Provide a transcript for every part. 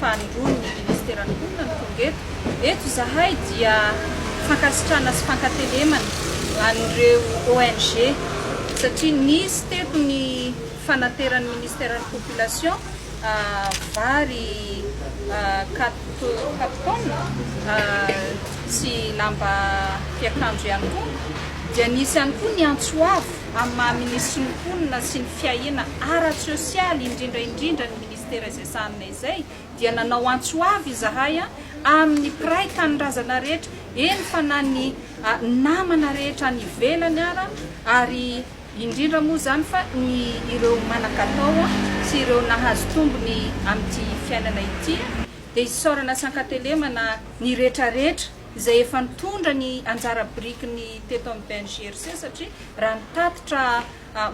fahandroany ny ministeran'ny mponina no tonga eto. Eto izahay dia fankasitrahana sy fankatelemana an'ireo ONG satria nisy teto ny fanateran'ny ministeran'ny population vary quatre quatre tonnes sy lamba fiakanjo ihany koa, dia nisy ihany koa ny antso avo. amin'ny maha minisitry ny mponina sy ny fiahiana ara-tsosialy indrindra indrindra ny ministera izay sahanina izay dia nanao antso avo izahay amin'ny mpiray tanindrazana rehetra eny fa na ny namana rehetra any ivelany ara ary indrindra moa izany fa ny ireo manan-katao sy ireo nahazo tombony amin'ity fiainana ity dia isaorana sy ankatelemana ny rehetra rehetra izay efa nitondra ny anjara birikiny teto amin'ny BNGRC satria raha ny tatitra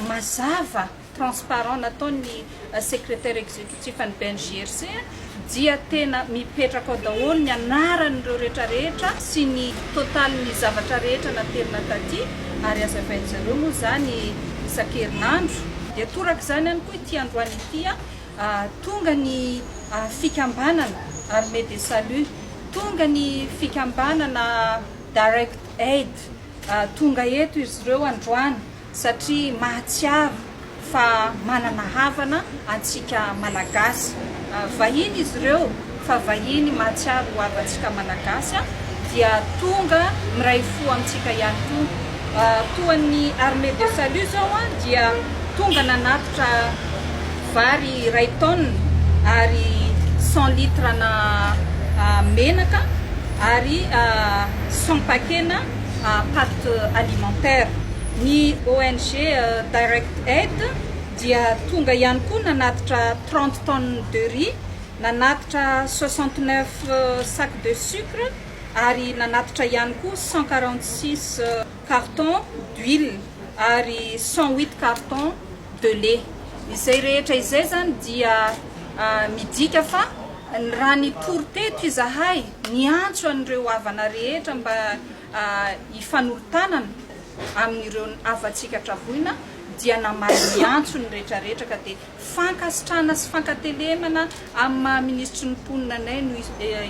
mazava, transparent, nataon'ny Secrétaire Exécutif an'ny BNGRC dia tena mipetraka ao daholo ny anaran'ireo rehetra rehetra sy ny totalin'ny zavatra rehetra naterina taty ary hazavain'izareo moa izany isan-kerinandro. Dia torak'izany ihany koa ity androany ity. Tonga ny fikambanana Armée de Salut, tonga ny fikambanana Direct Aid, tonga eto izy ireo androany satria mahatsiaro fa manana havana antsika Malagasy. Vahiny izy ireo. fa vahiny mahatsiaro ho havantsika Malagasy dia tonga miray fo amintsika ihany koa. Toa ny Armée de Salut zao dia tonga nanatitra vary iray tonne ary cent litres na menaka ary cent paquets-na pâtes alimentaires. Ny ONG Direct Aid dia tonga ihany koa nanatitra trente tonnes de riz. Nanatitra soixante neuf sacs de sucre ary nanatitra ihany koa cent quarante six cartons d'huile ary cent huit cartons de lait. Izay rehetra izay izany dia midika fa raha nitory teto izahay niantso an'ireo havana rehetra mba hifanolo-tanana amin'ireo havantsika traboina dia namaly ny antsony retraretra ka dia Fankasitrahana sy fankatelemana amin'ny maha Minisitry ny Mponina anay no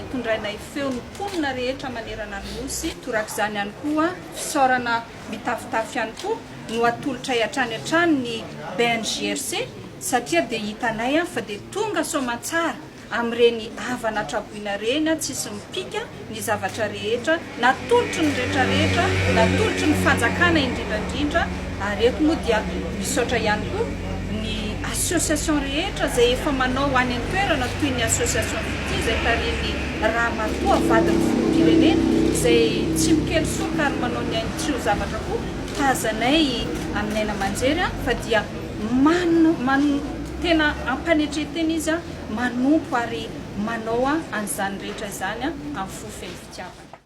itondrainay feo ny mponina rehetra manerana ny Nosy. Torak'izany ihany koa, fisaorana mitafotafo ihany koa no atolotray hatrany hatrany ny BNJRC satria dia hitanay fa dia tonga soamantsara amin'ireny havana traboina ireny tsisy mipika ny zavatra rehetra natolotry ny rehetra rehetra natolotry ny fanjakana indrindra indrindra ary eto moa dia misaotra ihany koa ny association rehetra izay efa manao any an-toerana toy ny association fitia izay tarihin'ny ramatoa vadin'ny filoham-pirenena izay tsy mikely soroka ary manao ny ainy tsy ho zavatra koa tazanay amin'ny aina aman-jery fa dia man man tena am-panetrentena izy manompo ary manaoa an'izany rehetra izany amin'ny fo feno fitiavana.